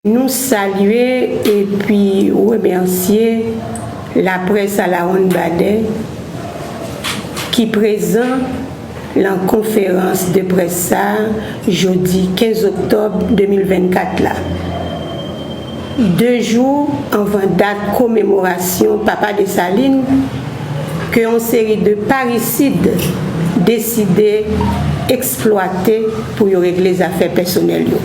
Nou salye epi remèsye laprès alawonnbadè ki prezan lan konferans de près sa a jodi 15 oktòb 2024 la, 2 jou anvan dat komemorasyon Papa Desalin ke yon seri de parisid deside eksplwate pou yo regle zafè pèsonèl yo.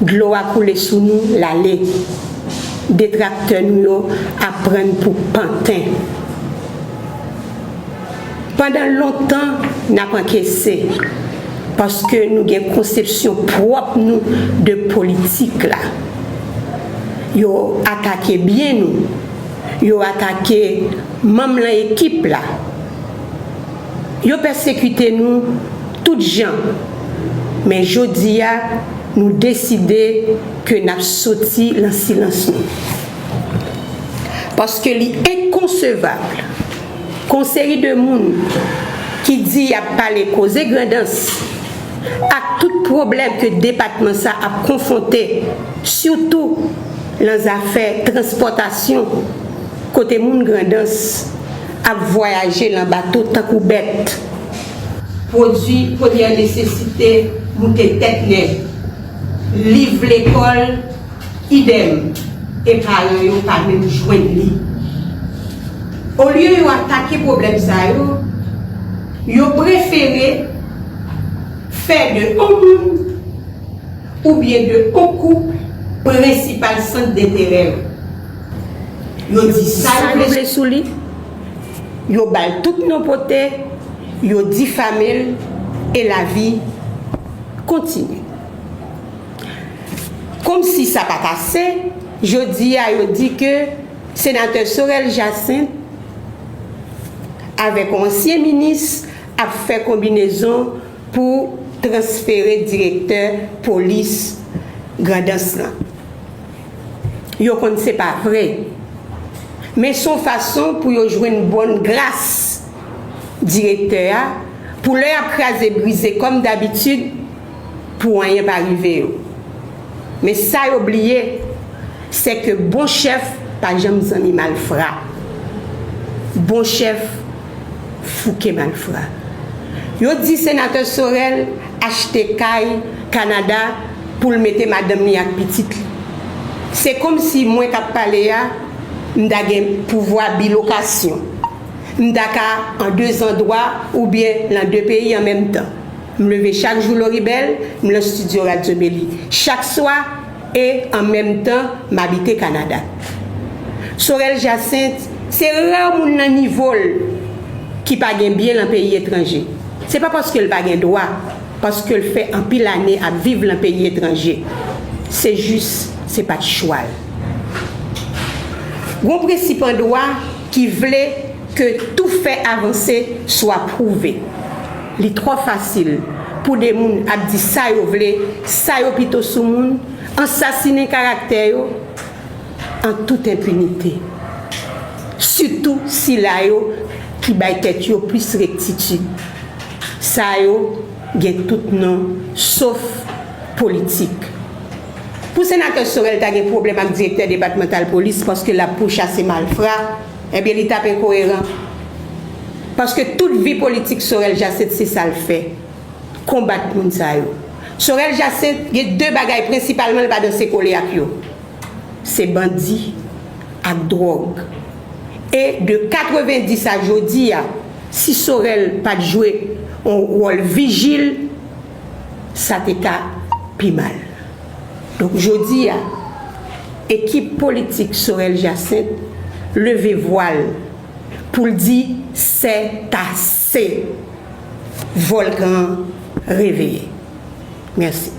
Dlo a koule sou nou lale. Detraktè nou yo ap pran n pou panten. Pandan lontan n ap ankese paske nou gen konsepsyon pwòp nou de politik la. Yo atake byen nou. Yo atake manm lan ekip la. Yo pèsekite nou tout jan, men jodi a nou deside ke n ap soti lan silans nou. Paske li enkonsevab kon seri de moun ki di y ap pale koze Grandans ak tout pwoblèm ke depatman sa ap konfwonte sitou lan zafè transpòtasyon kote moun Grandans Ap vwayaje lan bato tankou bèt. Pwodui premyè nesesite moute tèt lè. Liv lekòl, idem, e paran yo pa menm jwenn li. Olye yo atake pwoblèm sa yo, yo prefere fè de on moun oubyen de on koup prensipal sant denterè yo. Yo di sa yo vle sou li, yo ba l tout non pote, yo difame l e lavi kontinye. Komsi sa pa t ase, jodi a yo di ke Senatè Sorel Jacinthe avèk yon ansyen minis ap fè konbinezon pou transfere direktè polis Grandans lan. Yo konn se pa vre. Men son fason pou yo jwenn bòn gras direktè a pou lè yap kraze brize kòm dabitid pou anyen pa rive yo. Men sa yo bliye sè ke bon chèf pa janm zanmi malfra. Bon chèf. fouke malfra. Yo di senatè Sorel achte kay Canada pou l mete madanm li ak pitit li. Se komsi mwen kap pale a m ta gen pouvwa bilokasyon. M ta ka an 2 zandwa oubyen lan 2 peyi an menm tan. M leve chak jou Loribel, m lan studio Radio Meli. Chak swa. E an menm tan m abite Kanada. Sorel Jacinthe se ra moun nan nivo l ki pa gen byen lan peyi etranje. Se pa paske l pa gen dwa, paske l fè anpil ane ap viv lan peyi etranje. Se jis se pa t chwa l. Gon prensip an dwa ki vle ke tou fè avanse swa pwouve. Li trò fasil pou de moun ap di sa yo vle, sa yo pito sou moun, ansasinen karaktè yo an tout enpinite. Sitou sila yo ki bay tèt yo plis rektitid. Sa yo gen tout non sof politik. Pou Senatè Sorel ta gen pwoblèm ak direktè depatmantal polis paske l ap pouchase malfra, Ebyen li tap enkoyeran. Paske tout vi politik Sorel Jacinthe se sa l fè. Konbat moun sa yo. Sorel Jacinthe gen 2 bagay prensipalman l pa danse kole ak yo. Se bandi ak drog. E de 90 a jodi a si Sorel pat jwe on wòl vijil. sa te ka pi mal. Donk jodi a, ekip politik Sorel Jacinthe leve vwa l pou l di sètase! Vòlkan an reveye. Mèsi.